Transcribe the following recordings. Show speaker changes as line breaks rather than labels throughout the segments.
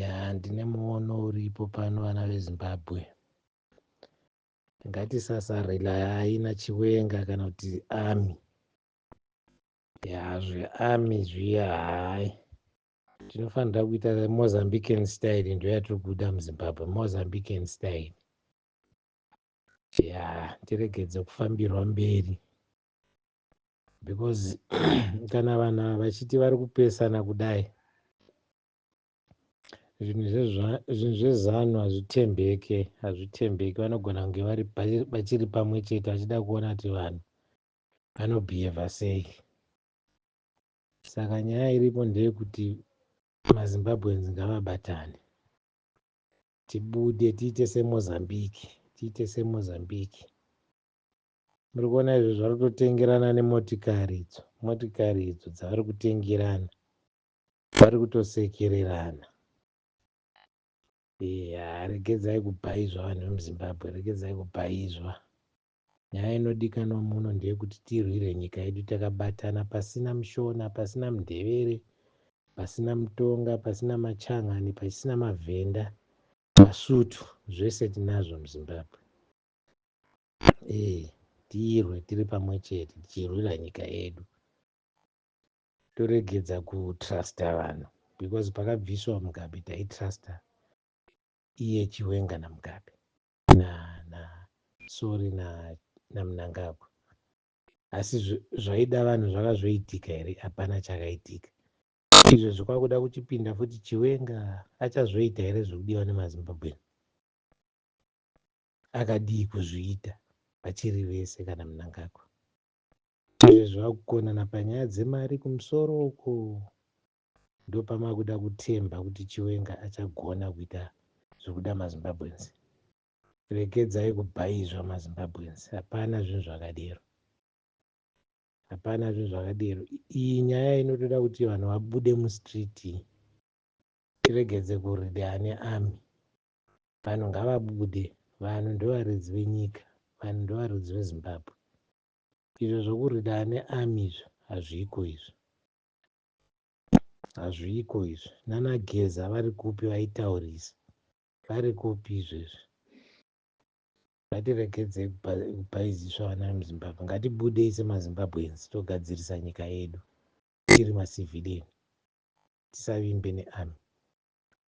Ya ndine muono uripo pano vana veZimbabwe. Ngatisasarelayi naChiwenga kana kuti army. Ya zvearmy zviya hayi. Tinofanira kuita Mozambican style ndoyatiri kuda muZimbabwe, Mozambican style. Ya tiregedze kufambirwa mberi. because kana vanhu ava vachiti vari kupesana kudai zvinhu zvinhu zvezanu hazvitembeke hazvitembeke vanogona kunge vari vachiri pamwe chete vachida kuona kuti vanhu vanobhiyevha sei saka nyaya iripo ndeyekuti mazimbabweans ngavabatane tibude tiite semozambique tiite semozambique Muri kuona izvo zvari kutotengerana nemotikari idzo, motikari idzo dzavari kutengerana, vari kutosekererana. Eya, regedzai kubhaizwa vanhu vemuZimbabwe, regedzai kubhaizwa. Nyaya inodikanwa muno ndeyekuti tirwire nyika yedu takabatana pasina mushona pasina mundevere pasina mutonga pasina machangani pasina mavhenda masutu zvese tinazvo muzimbabwe Hey, tirwe tiri pamwe chete tichirwira nyika yedu toregedza kutrusta vanhu because pakabviswa mugabe taitrusta iye chiwenga namugabe na, na sorry na namunangagwa asi zvaida vanhu zvakazoitika here hapana chakaitika izvo zvikwakuda kuchipinda futi chiwenga achazoita here zvekudiwa nemazimbabweni akadii kuzviita vachiri vese kana Mnangagwa izvi zvakukonana panyaya dzemari kumusoro uko ndopamakuda kutemba kuti Chiwenga achagona kuita zvikuda maZimbabweans regedzai kubhaizwa maZimbabweans hapana zvinhu zvakadero hapana zvinhu zvakadero iyi nyaya inotoda kuti vanhu vabude mustreet tiregedze kurida ane army Vanhu ngavabude, vanhu ndovaridzi venyika, vanhu ndovaridzi veZimbabwe. Izvo zvokurida ane army izvo hazviko izvo. Hazviko izvo. Nana Geza vari kupi vaitaurisa? Vari kupi izvo izvo? Ngatiregedze kupaiziswa vana vemuZimbabwe. Ngatibudei semaZimbabweans togadzirisa nyika yedu tiri macivilian. Tisavimbe nearmy.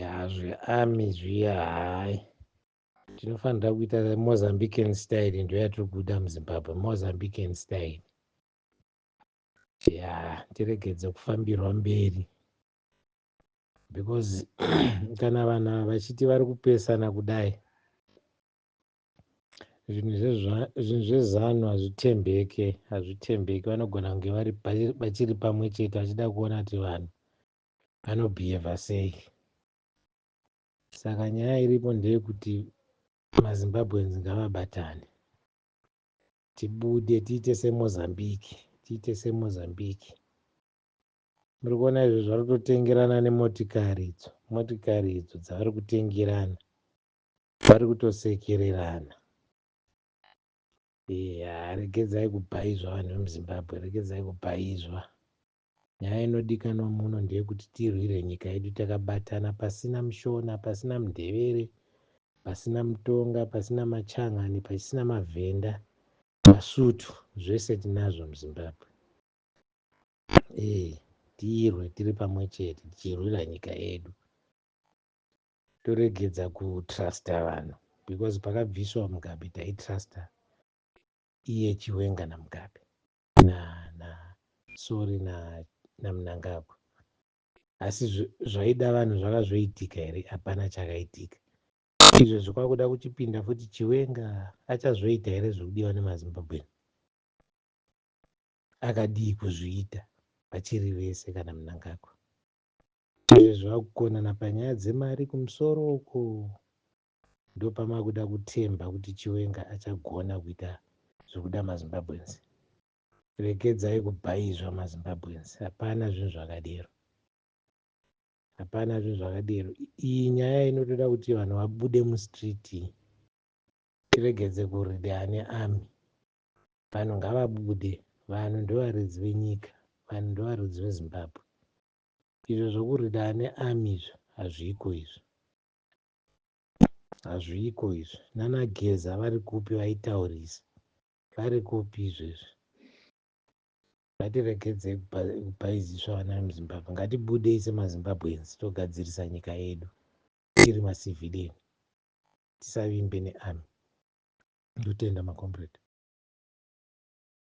ya zvearmy zviya hayi tinofanira kuita mozambican style ndo yatiri kuda muzimbabwe mozambican style ya tiregedze kufambirwa mberi because kana vanhu ava vachiti vari kupesana kudai zvinhu zvezanu hazvitembeke hazvitembeke vanogona kunge vachiri pamwe chete vachida kuona kuti vanhu anobhiyevha sei saka nyaya iripo ndeyekuti mazimbabweans ngavabatane tibude tiite semozambique tiite semozambique muri kuona izvo zvari kutotengerana nemotikari idzo motikari idzo dzavari kutengerana vari kutosekererana ya regedzai kubhaizva vanhu vemuzimbabwe regedzai kubhaizva yeah. Nyaya inodikanwa muno ndeyekuti tirwire nyika yedu takabatana pasina mushona, pasina mundevere, pasina mutonga, pasina machangani, pasina mavhenda, masutu zvese tinazvo muZimbabwe. Eeh tirwe tiri pamwe chete tichirwira nyika yedu. Toregedza kutruster vanhu because pakabviswa Mugabe taitruster iye Chiwenga naMugabe. na na sorry na na Mnangagwa asi zvaida vanhu zvaka zvoitika here hapana chakaitika izvezvi kwakuda kuchipinda futi chiwenga achazoita here zvekudiwa nemazimbabweni akadii kuzviita vachiri vese kana Mnangagwa izvezvi vakukonana panyaya dzemari kumusoro uko ndopamakuda kutemba kuti chiwenga achagona kuita zvekuda mazimbabweans regedzai kubhaizwa mazimbabweans hapana zvinhu zvakadero hapana zvinhu zvakadero iyi nyaya inotoda kuti vanhu vabude mustreet tiregedze kuride ane army vanhu ngavabude vanhu ndovaridzi venyika vanhu ndovaridzi vezimbabwe izvo zvokurida ane army izvo hazviko izvo hazviko izvi nana geza vari kupi vaitaurisa vari kupi izvezvi ngatiregedzei kupaiziswa vana vemuzimbabwe ngatibudei semazimbabweans togadzirisa nyika yedu tiri macivilian tisavimbe nearmy ndotenda macomrade